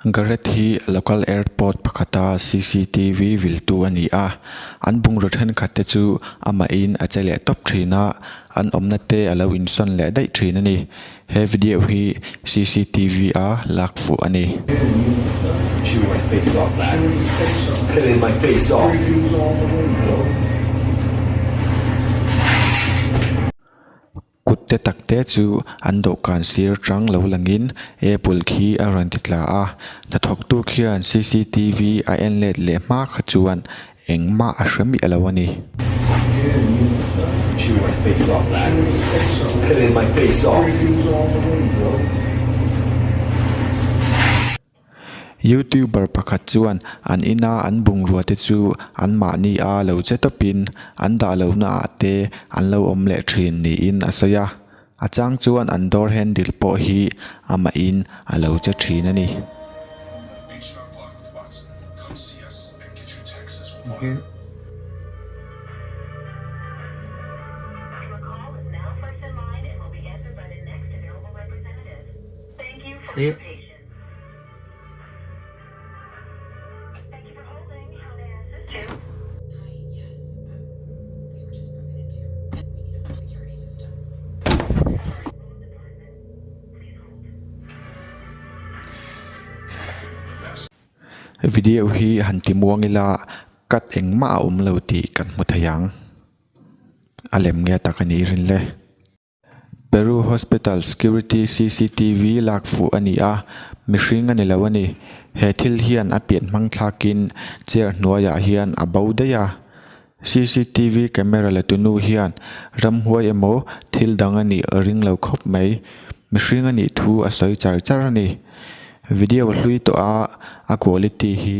Garret hi local airport pakhata CCTV viltu a ni a, an bungraw thenkhat te chu amahin a che leh tawp thin a, an awmna te a lo insawn leh daih thin a ni. He video hi CCTV a lak fuh a ni. Kutte tak te chu an dawhkan sir chang lo langin Apple khi a rawn ti tla a. Hnathawktu khian CCTV a en let leh hma kha chuan Engmah a hre miah lo a ni. Youtuber pakhat chuan an ina an bungrua te chu an mahni a lo che tawpin an dah lohna ah te an lo awm leh thin niin a sawi a. A chang chuan an door handle pawh hi amahin a lo che thin a ni. Thank you for your patience. Video hi han ti muang ila cut engmah a awm lo tih kan hmu thei ang a lem nge tak a nih rinle. Peru hospital security CCTV lak fuh a ni a, mihring a ni lo a ni. He thil hian a pian hmang thlakin chair hnuaiah hian a bo daih a. CCTV camera la tu nu hian ramhuai emaw thil dang a nih a ring lo khawp mai. Mihring a nih thu a sawi char char a ni. Video hlui tawha a quality hi.